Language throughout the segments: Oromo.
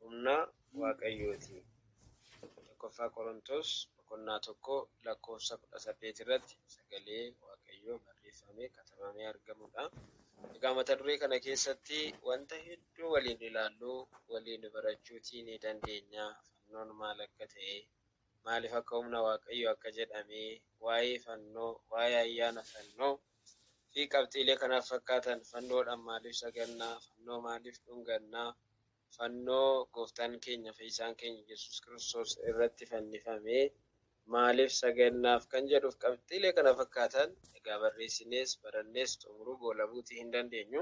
humna waaqayyooti. Tokkoffaa Qorontos boqonnaa tokko lakkoofsa kudha saddeet irratti sagalee waaqayyoo barreeffamee katabamee argamudha. Egaa mata duree kana keessatti wanta hedduu waliin ilaallu waliin barachuutii ni dandeenya. Fannoon maal akka ta'e, Maaliif akka humna Waaqayyoo akka jedhamee, waa'ee fannoo, waa'ee ayyaana fannoo, fi qabxiilee kanaaf fakkaatan, fannoodhaan maaliif saganna, fannoo maaliif dhunganna, fannoo gooftaan keenya fayyisaan keenya Yesuus Kiristoos irratti fannifame maaliif sagannaaf kan jedhuuf qabxiilee kana fakkaatan egaa barreessinees barannees xumuruu goolabuutii hin dandeenyu.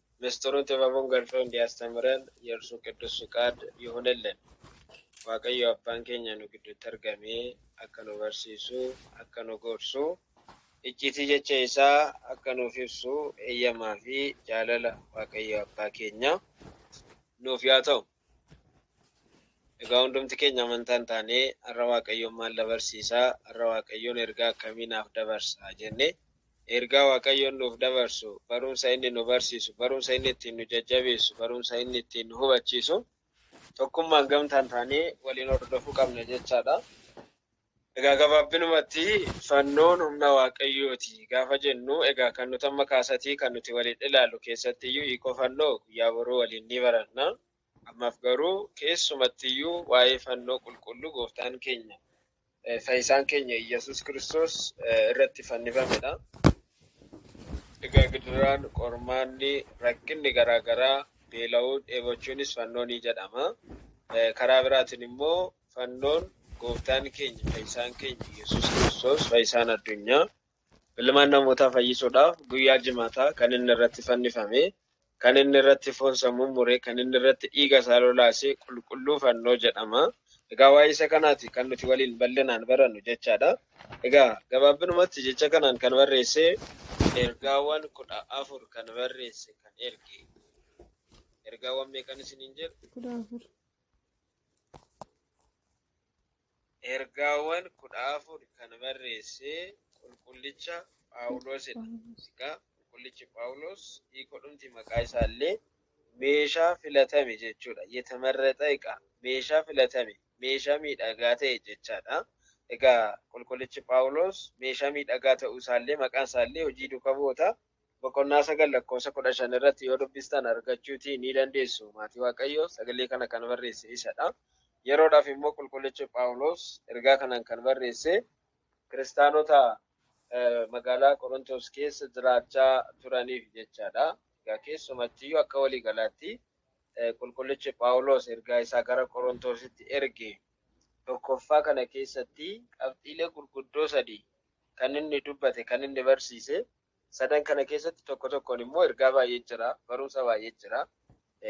Misxiruu Xibabuun Galchuu Endiyaastamiran Yersu Qiddus Fiqaad Yihunillen! Waaqayyo Abbaan keenya nu gidduutti argamee akka nu barsiisu, akka nu gorsu, icciitii jecha isaa akka nuuf ibsu eeyyamaa fi jaalala Waaqayyo Abbaa keenyaa nuuf yaa ta'u! Egaa hundumti keenya amantaa hin taane har'a Waaqayyoon maal na barsiisa? Har'a Waaqayyoon ergaa akkamii naaf dabarsa? jennee ergaa Waaqayyoon nuuf dabarsu, barumsa inni nu barsiisu, barumsa inni ittiin nu jajjabeessu, barumsa inni ittiin nu hubachiisu tokkummaan gamtaan taanee waliin hordofuu qabna jechaadha. Egaa gabaabinumatti fannoon humna waaqayyooti gaafa jennu egaa kan nuti amma kaasatii kan nuti waliin ilaallu keessattiyyuu hiikoo fannoo guyyaa boruu waliin ni baranna. Ammaaf garuu keessumattiyyuu waa'ee fannoo qulqulluu gooftaan keenya eh, fayyisaan keenya Iyyasuus Kiristoos eh, irratti fannifamedha. Egaa gidiraan, qormaanni, rakkinni garaagaraa, beela'uun, dheebochuunis fannoo ni jedhama. Eh, Karaa biraatiin immoo Fannoon gooftaan keenya fayyisaan keenya Yesuus Kiristoos fayyisaan addunyaa ilmaan namootaa fayyisuudhaaf guyyaa jimaataa kan inni irratti fannifame kan inni irratti foonsa mummure kan inni irratti dhiiga isaa lolaase qulqulluu fannoo jedhama. Egaa waa'ee isa kanaati kan nuti waliin bal'inaan barannu jechaadha. Egaa gabaabinumatti jecha kanaan kan barreesse ergaawwan kudha afur kan barreesse kan erge ergaawwan meeqan isiniin jedhu? kudha afur. Ergaawwan kudha afur kan barreesse qulqullicha Phaawulosidha. Egaa qulqullichi Phaawulos hiikodhumti maqaa isaa illee meeshaa filatame jechuudha. Yetamarraxa eqa meeshaa filatame meeshaa miidhagaa ta'e jechaadha. Egaa qulqullichi Phaawulos meeshaa miidhagaa ta'uu isaallee maqaan isaallee hojii duuka bu'oota boqonnaa 9 lakkoofsa 15 irratti yoo dubbistan argachuutii ni dandeessu. Maatii Waaqayyoo sagalee kana kan barreesse isadha. Yeroodhaaf immoo qulqullichi Phaawulos ergaa kanaan kan barreesse kiristaanota eh, magaalaa Qorontos keessa jiraachaa turaniif jechaadha. Egaa keessumattiyyuu akka waliigalaatti eh, qulqullichi Phaawulos ergaa isaa gara Qorontositti erge tokkoffaa kana keessatti qabxiilee gurguddoo sadii kan inni dubbate, kan inni barsiise sadan kana keessatti tokko tokkoon immoo ergaa baay'ee jira, barumsa baay'ee jira.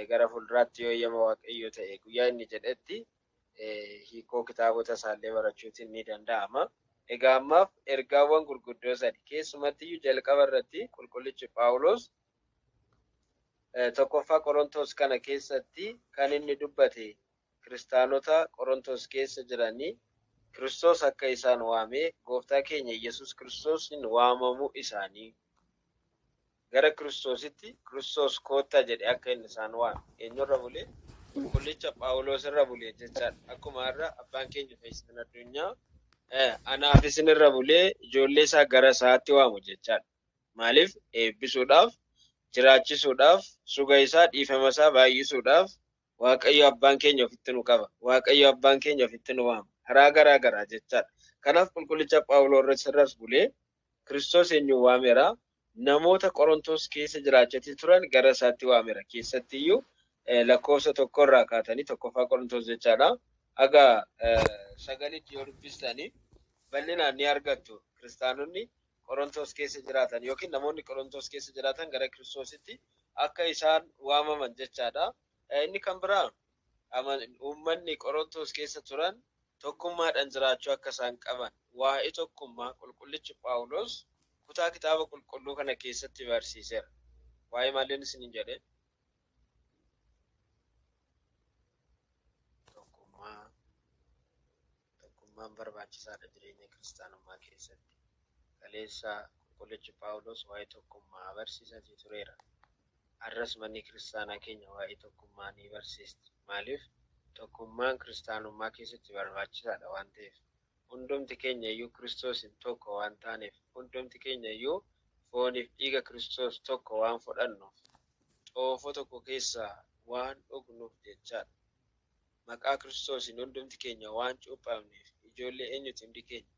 Gara fuulduraatti yoo eeyyama Waaqayyoo ta'e guyyaa inni jedhetti hiikoo kitaabota isaallee barachuutiin ni danda'ama. Egaa ammaaf ergaawwan gurguddoo sadi keessumatti iyyuu jalqaba irratti qulqullichi Phaawulos tokkoffaa Qorontos kana keessatti kan inni dubbate Kiristaanota Qorontos keessa jiranii Kiristoos akka isaan waame Gooftaa keenya Iyyasuus Kiristoosiin waamamuu isaanii gara Kiristoositti Kiristoos koottaa jedhe akka inni isaan waame eenyurra bule? Qulqullicha Phaawuloos irra bule jechaadha. Akkuma har'a abbaan keenya fayyisaan addunyaa anaaf isin irra bulee ijoollee isaa gara isaatti waamu jechaadha. Maaliif eebbisuudhaaf, jiraachisuudhaaf, suga isaa, dhiifama isaa baay'isuudhaaf Waaqayyo Abbaan keenya ofitti nu qaba. Waaqayyo Abbaan keenya ofitti nu waama. Karaa garaa garaa jechaadha. Kanaaf qulqullicha Phaawuloos irras bulee Kiristoos eenyuun waamera? Namoota Qorontoos keessa jiraachatii turan gara isaatti waamera. Keessatti iyyuu lakkoofsa tokko irraa kaatanii tokkoffaa Qorontoos jechaadha. Haga sagalitti yoo dubbistanii bal'inaan ni argattu. Kiristaanonni Qorontos keessa jiraatan ykn namoonni Qorontos keessa jiraatan gara Kiristoositti akka isaan waamaman jechaa dha. Inni kan biraa uummanni Qorontos keessa turan tokkummaadhaan jiraachuu akka isaan qaban waa'ee tokkummaa qulqullichi Phaawulos kutaa kitaaba qulqulluu kana keessatti barsiiseera. Waa'ee maaliin isiniin jedhe? Tokkummaa Tokkummaan barbaachisaadha jireenya kiristaanummaa keessatti. Kaleessa qulqullichi Phaawulos waa'ee tokkummaa barsiisaatii tureera. Har'as manni kiristaanaa keenya waa'ee tokkummaa ni barsiisti. Maaliif? Tokkummaan kiristaanummaa keessatti barbaachisaadha waan ta'eef. Hundumti keenya iyyuu Kiristoosiin tokko waan taaneef, hundumti keenya iyyuu fooniif dhiiga Kiristoos tokko waan fudhannuuf, xoofoo tokko keessaa waan dhugnuuf jechaa dha. Maqaa Kiristoosiin hundumti keenya waan cuuphamneef, ijoollee eenyuti hundi keenya?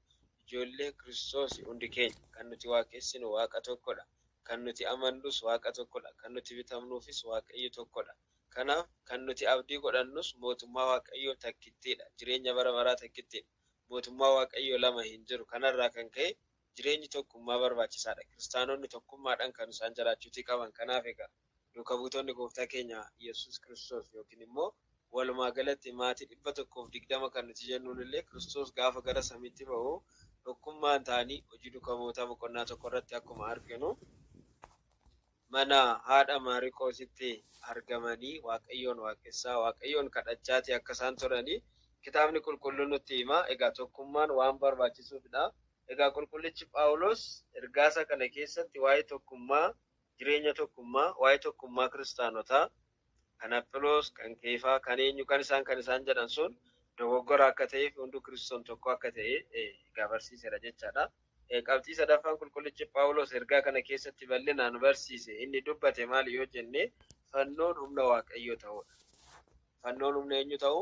Ijoollee Kiristoosi hundi keenya. Kan nuti waaqessinu Waaqa tokko dha, kan nuti amannus Waaqa tokko dha, kan nuti bitamnuufis Waaqayyo tokko dha. Kanaaf, kan nuti abdii godhannus Mootummaa Waaqayyoo takkittii dha, jireenya bara baraa takkittii dha. Mootummaa Waaqayyoo lama hin jiru. Kanarraa kan ka'e, jireenyi tokkummaa barbaachisaa dha. Kiristaanonni tokkummaadhaan kan isaan jiraachuutii qaban. Kanaaf egaa, duuka buutonni Gooftaa keenya Yesuus Kiristoos ykn immoo walumaa galatti maatii 120 kan nuti jennuun illee Kiristoos gaafa gara samiitti ba'u tokkummaan ta'anii Hojii Duuka Bu'ootaa boqonnaa 1 irratti akkuma arginu, mana haadha Maariqoositti argamanii Waaqayyoon waaqessaa, Waaqayyoon kadhachaati akka isaan turani kitaabni qulqulluun nutti hima. Egaa tokkummaan waan barbaachisuufidha. Egaa qulqullichi Phaawulos ergaasa kana keessatti waa'ee tokkummaa, jireenya tokkummaa, waa'ee tokkummaa kiristaanotaa, Kan Aphiloos, kan Keefaa, kan eenyu, kan isaan, kan isaan jedhan sun dogoggora akka ta'ee fi hunduu Kiristoon tokko akka ta'e egaa barsiiseera jechaadha. Qabxii sadaffaan qulqullichi Phaawuloos ergaa kana keessatti bal'inaan barsiise inni dubbate maali yoo jenne fannoon humna Waaqayyoo ta'uudha. Fannoon humna eenyu ta'u?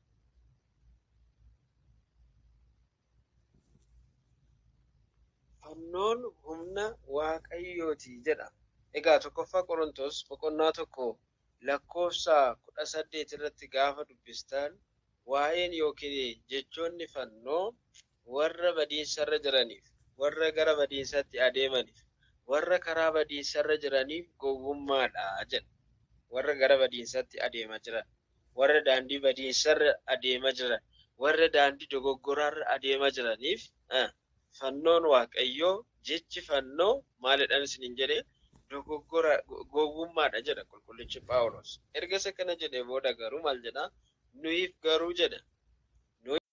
Fannoon humna Waaqayyooti jedha. Egaa tokkoffaa Qorontos boqonnaa tokko lakkoofsa kudha saddeet irratti gaafa dubbistan waa'een yookiin jechoonni fannoo Warra badiinsarra jiraniif, warra gara badiinsaatti adeemaniif, warra karaa badiinsarra jiraniif gowwummaa dha jedha. Warra gara badiinsaatti adeema jiran, warra daandii badiinsarra adeema jiran, warra daandii dogoggoraarra adeema jiraniif fannoon Waaqayyoo, jechi fannoo maalidhan isiniin jedhe? Dogoggora, gowwummaa dha jedha qulqullichi Phaawuloos. Erga isa kana jedhee booda garuu maal jedha? Nuyiif garuu jedha.